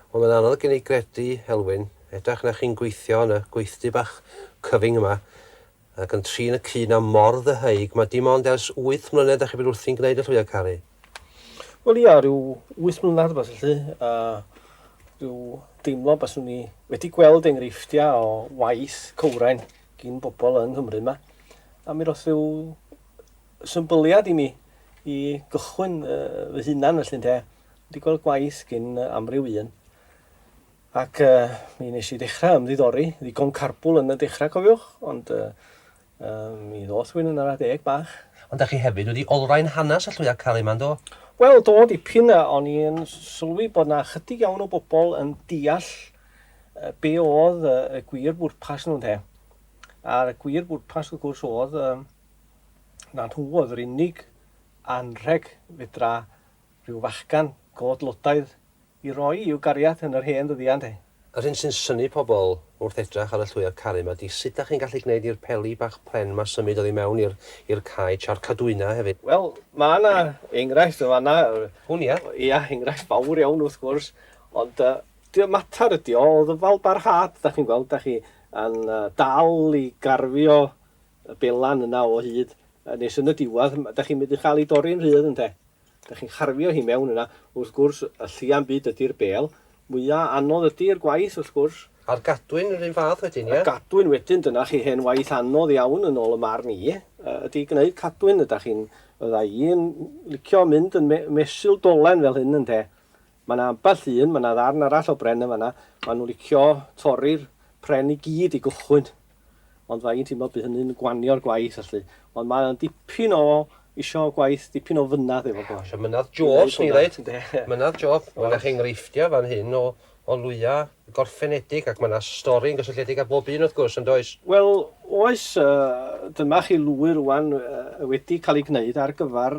Wel mae'n anodd gen i gredu, Elwyn, edrach na chi'n gweithio yn y gweithdy bach cyfyng yma, ac yn trin y cyn a mor ddyheug, mae dim ond ers wyth mlynedd da chi bod wrthi'n gwneud y llwyau caru. Wel ia, rhyw wyth mlynedd beth felly, a rhyw deimlo baswn ni wedi gweld enghreifftiau o waith cywrain gin bobl yng Nghymru yma, a mi roth rhyw Symbyliad i mi, i gychwyn fy hunan felly ynde, dwi 'di gweld gwaith gin amryw un, ac uh, mi nes i ddechrau ymddiddori, ddigon carbwl yn y dechrau cofiwch, ond uh, uh, mi ddoth rwy'n yn ara deg bach. Ond da chi hefyd wedi olrhain hanes y llwyau caru yma, do? Wel, do, dipyn, a o'n i'n sylwi bod na chydig iawn o bobl yn deall uh, be oedd uh, y gwir bwrpas nhw'n he. A'r gwir bwrpas, wrth gwrs, oedd uh, na nhw oedd yr unig anrheg fedra rhyw fachgan godlotaidd i roi i'w gariad yn yr hen ddyddiau, ynde? Yr hyn sy'n synnu pobl wrth edrach ar y llwyr caru 'ma 'di sut dach chi'n gallu gneud i'r peli bach pren 'ma symud oddi mewn i'r i'r cae tra'r Cadwyna hefyd. Wel, ma' 'na enghraifft yn fan'na. Hwn ia? Ia, enghraifft fawr iawn wrth gwrs, ond yy dy- matar ydi o o ddyfalbarhad, dach chi'n gweld, dach chi yn yy dal i garfio y belan yna o hyd nes yn y diwadd da chi'n mynd i chael ei dorri'n rhydd ynde? Da chi'n carfio hi mewn yna. Wrth gwrs y llia'n byd ydi'r bel. Mwya anodd ydi'r gwaith wrth gwrs. A'r gadwyn yr un fath wedyn ie? Y gadwyn wedyn dyna chi hen waith anodd iawn yn ôl y marn i ydi gneud cadwyn da chi'n fydda i'n licio mynd yn mesul dolen fel hyn ynde? Ma' na ambell un ma' na ddarn arall o bren yn fanna ma' nhw'n licio torri'r pren i gyd i gychwyn. Ond fydda i'n teimlo bydd hynny'n gwanio'r gwaith allu. Ond mae o'n dipyn o... isio gwaith dipyn o fynad efo fo. Isio mynad job, swn i'n ddeud. Ynde. Mynad job. Mae 'na enghreifftiau fan hyn o o lwyau gorffenedig ac mae 'na stori yn gysylltiedig â bob un wrth gwrs, yn does? Wel, oes. Dyma chi lwy rŵan wedi cael ei gwneud ar gyfer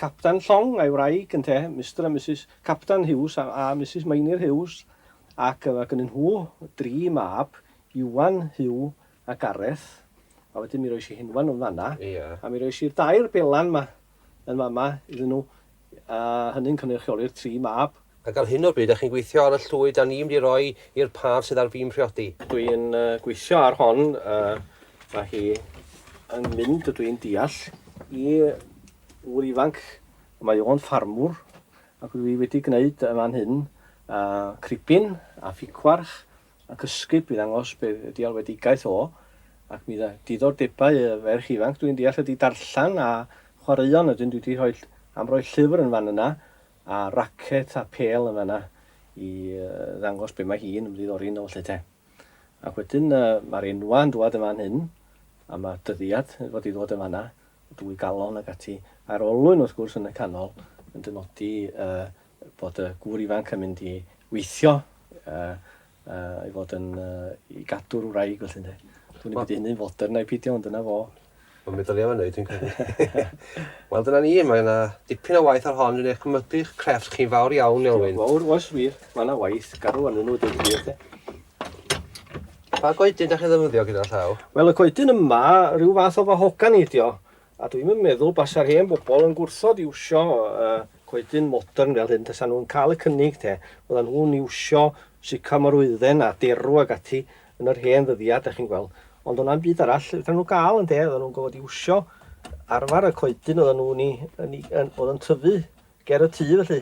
Capten Llong a'i wraig, ynte, Mister a Misus Capten Hughes a a Misus Meinir Hughes, ac mae gynnyn nhw dri mab, Iwan, Huw a Gareth, a wedyn mi rois i Henwan yn fanna, a mi rois i'r dair belan 'ma yn fama iddyn nhw, a hynny'n cynrychioli'r tri mab. Ac ar hyn o bryd, dach chi'n gweithio ar y llwy 'da ni'n mynd i roi i'r pâr sydd ar fin priodi? Dwi yn gweithio ar hon, mae hi yn mynd, ydw i'n deall, i ŵr ifanc, mae o'n ffarmwr, ac dwi wedi gwneud yn fan hyn cribin a ffigwarch ac ysgub i ddangos be ydi alwedigaeth o, ac mi dda diddordebau y ferch ifanc dwi'n deall ydi darllen a chwaraeon ydyn dwi di rhoi am roi llyfr yn fan yna a racet a pêl yn fanna i ddangos be mae hi'n ymddiddori yno felly te. Ac wedyn uh, mae'r enwa yn dwad yn fan hyn a mae dyddiad yn fod i ddod yn fanna, dwy galon ac ati, a'r olwyn wrth gwrs yn y canol yn dynodi uh, bod y gŵr ifanc yn mynd i weithio a, a i fod yn uh, i gadw'r wraig felly ynde. Dwi'n mynd i hynny'n fodern neu pidio, ond dyna fo. Mae'n meddwl iawn ei, dwi'n credu. Wel, dyna ni, mae yna dipyn o waith ar hon, dwi'n eich cymybu'ch crefft chi'n fawr iawn, Elwyn. Fawr, oes wir, mae yna waith, garw yn nhw, dwi'n credu. Pa goedyn da chi ddefnyddio gyda'r llaw? Wel, y coedyn yma, rhyw fath o fahogan i ydi o. A dwi'm yn meddwl basa'r hen bobol yn gwrthod iwsio yy coedyn modern fel hyn tasa nhw'n cael y cynnig te. Fyddan nhw'n iwsio sycamor wydden a derw ag ati yn yr hen ddyddia' dach chi'n gweld. Ond o'na'm byd arall fedran nhw ga'l ynde? Oddan nhw'n gorfod iwsio arfar y coedyn oddan nhw'n 'i yn 'i yn o'dd yn tyfu ger y tŷ felly.